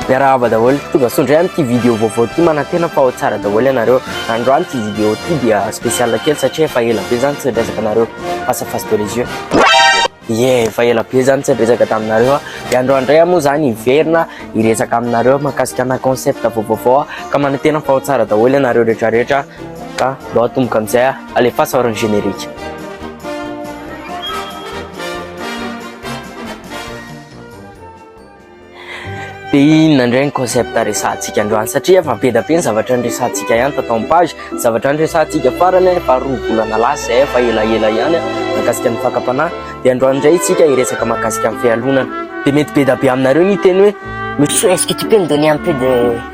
Miarahaba daholo, tongasoa indray amin'ity vidéo vaovao ity, manantena fa ao tsara daholo ianareo. Androany ity vidéo ity dia spécial kely satria efa ela be zany tsy niresaka anareo face à face de les yeux. Ie, efa ela be zany tsy niresaka taminareo. Dia androany indray aho moa zany hiverina hiresaka aminareo mahakasika ana concept vaovaovao ka manantena fa ao tsara daholo ianareo rehetra rehetra ka mba atomboka amin'izay. Alefaso ary ny générique. Dia inona indray ny concept resahantsika androany satria efa be dia be ny zavatra niresahantsika ihany tato amin'ny page. Zavatra niresahantsika farany efa roa volana lasa izay efa elaela ihany mahakasika ny fakam-panahy. Dia androany indray isika hiresaka mahakasika ny fialonana. Dia mety be dia be aminareo ny hiteny hoe monsieur est-ce que tu peux me donner un peu de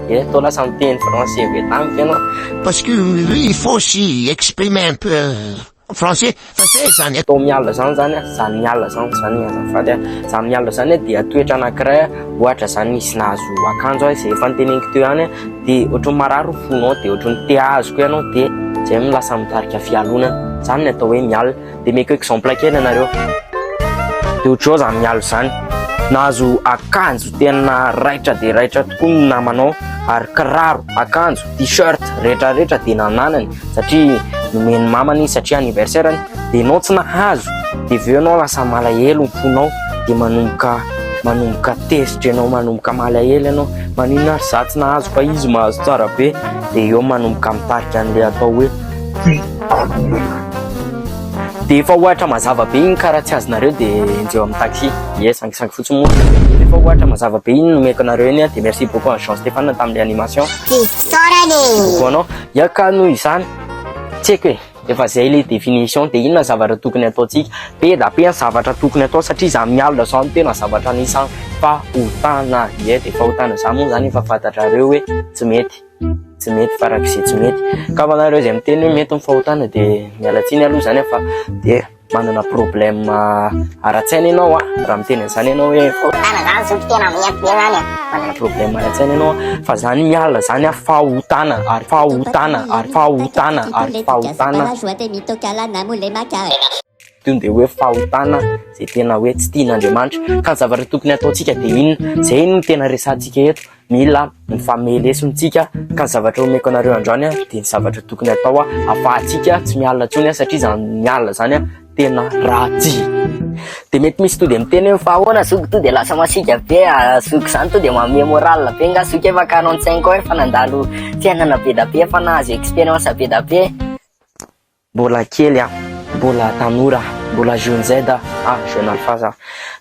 Eto lasa miteny français be tamiko ianao. Parce que lui il faut aussi exprimer un peu français fa zay zany a. Tao miala zany zany a, zany miala zany zany azafady a, zany miala zany dia toetra anakiray ohatra zany izy nahazo akanjo a zay efa noteneniko teo ihany a de ohatran'ny marary fo nao de ohatran'ny te hahazo koa ianao de zay no lasa mitarika fialonana, zany ny atao hoe miala. dia meko exemple kely anareo dia otrao zany mialo zany nahazo akanjo tena raitra dia raitra tokoa ny namanao ary kiraro akanjo t-shirt rehetra rehetra dia nananany satria nomen'ny mamany satria anniversaire ny dia nao tsy nahazo dia veo nao lasa malahelo ny fonao dia manomboka manomboka tezitra ianao manomboka malahelo ianao manina ary za tsy nahazo fa izy mahazo tsara be dia eo manomboka mitarika an'ilay atao hoe Dia efa ohatra mazava be iny ka raha tsy azonareo dia enjeo amin'ny taxi. Ie, sangisangy fotsiny moa. Dia efa ohatra mazava be iny no omeko anareo iny a. Dia merci beaucoup an'i Jean Stéphane tamin'ilay animation. Fisaorana e! Ho anao. Ia ka noho izany, tsy haiko e, efa izay ilay définition. Dia inona ny zavatra tokony hataontsika? Be da be ny zavatra tokony hatao satria izaho amin'ny alina izao no tena zavatra anisan'ny fahotana. Ie, dia fahotana izany moa izany efa fantatrareo hoe tsy mety. tsy mety farak'izay tsy mety ka ho anareo izay miteny hoe mety ny fahotana dia miala tsiny aloha izany fa dia manana problème ara-tsaina ianao a raha miteny an'izany ianao hoe fahotana izany zoky tena mety be izany a manana problème ara-tsaina ianao fa izany miala izany a fahotana ary fahotana ary fahotana ary fahotana tony dia hoe fahotana izay tena hoe tsy tian'Andriamanitra ka ny zavatra tokony hataontsika dia inona izay no tena resantsika eto Mila mifamely lesona tsika ka ny zavatra omeko anareo androany dia ny zavatra tokony atao ahafahantsika tsy miala intsony satria izany miala izany tena ratsy. Dia mety misy tody miteny hoe fa ahoana zoky to dia lasa masiaka be ah, zoky izany to dia manome moral be nga zoky efa 45 ans efa nandalo fiainana be da be efa nahazo expérience be da be. Mbola kely aho, mbola tanora aho, mbola jeune Z aho, ah jeune alphaz aho.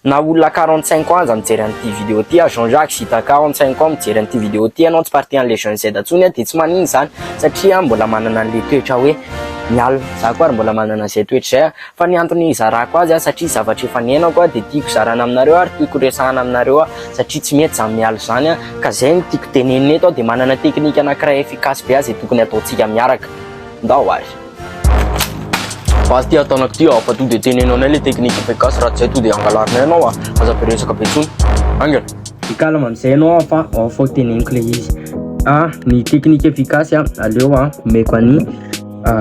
Na olona quarante cinq ans aza mijery an'ity vidéo ty ah, Jean Jacques sy Ita quarante cinq ans mijery an'ity vidéo ty ianao tsy partie an'le jeune Z intsony ah dia tsy manino izany satria aho mbola manana an'le toetra hoe mialona, za koa ary mbola manana izay toetra izay ah, fa ny antony hizarako azy ah satria zavatra efa niainako ah dia tiako zarana aminareo ary tiako resahana aminareo ah satria tsy mety izany miala izany ah ka izay no tiako tenenina eto aho dia manana technique anankiray efficace be ah izay tokony hataontsika miaraka. Ndao ary. Fa aty ataonao ty aho fa to dia teneno anay le technique efa gasy raha tsy hay to dia angalarinay anao ah. Aza be resaka be tsony. Angela. Be calme amizay anao aho fa ao fao teneniko le izy. Ah ny technique efficace ah aleo ah omeko any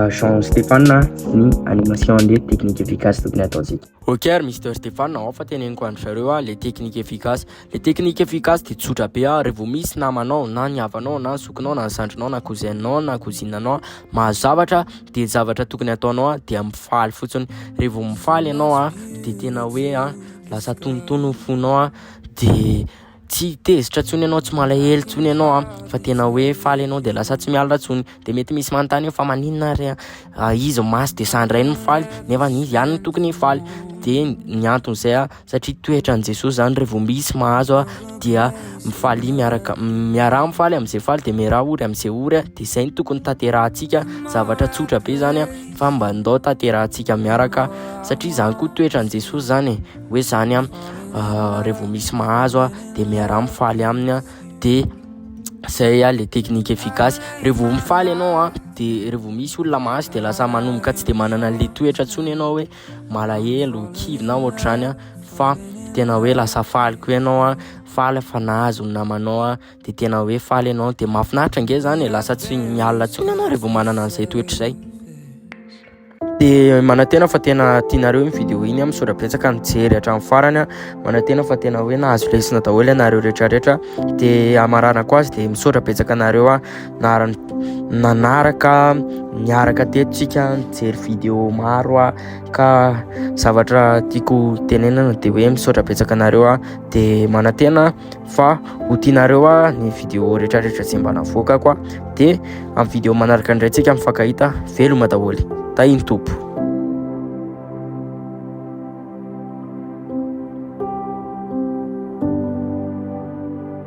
Jean Stéphane ah ny animation le technique efficace tokony ataontsika. Ok ary Mister Stéphane ao fa teneniko andry zareo ah le technique efficace. Le technique efficace de tsotra be ah, revo misy namanao na ny havanao na ny zokinao na ny zandrinao na cousinao na cousinanao mahazo zavatra de ny zavatra tokony ataonao ah dia mifaly fotsiny, revo mifaly ianao ah de tena hoe ah lasa tonitony ny fonao ah de tsy tezitra tsony ianao tsy malahelo tsony ianao ah fa tena hoe faly ianao de lasa tsy miala tsony de mety misy manontany fa maninona ary ah izy masy de sandrainy mifaly nefa izy ihany tokony hifaly de ny anton'izay ah satria toetran'i Jesosy zany revo misy mahazo a dia mifaly miaraka miaraha mifaly am'izay faly dia miaraha ory am'izay ory a dia izay ny tokony tanterahantsika zavatra tsotra be zany a fa mba ndao tanterahantsika miaraka satria zany koa toetran'i Jesosy zany e hoe zany a revo misy mahazo a dia miaraha mifaly aminy a dia zay a le technique efficace revo mifaly ianao a dia revo misy olona mahazo dia lasa manomboka tsy dia manana le toetra tsony ianao hoe malahelo, kivy na ohatr'izany a, fa tena hoe lasa faly koa ianao a, faly fa nahazo ny namanao a, de tena hoe faly ianao, de mahafinaritra nge zany e, lasa tsy miala intsony ianao revô manana an'izay toetra izay. De manantena fa tena tianareo iny vidéo iny a, misaotra betsaka nijery hatramin'ny farany a, manantena fa tena hoe nahazo lesona daholo ianareo retraretra, de hamaranako azy de misaotra betsaka anareo a. Naran nanaraka niaraka teto tsika nijery vidéo maro a ka zavatra tiako tenenana de hoe misaotra betsaka anareo a de manantena fa ho tianareo a ny vidéo rehetra rehetra zay mba navoakako a de am vidéo manaraka ndray tsika mifankahita veloma daholo tahiny tompo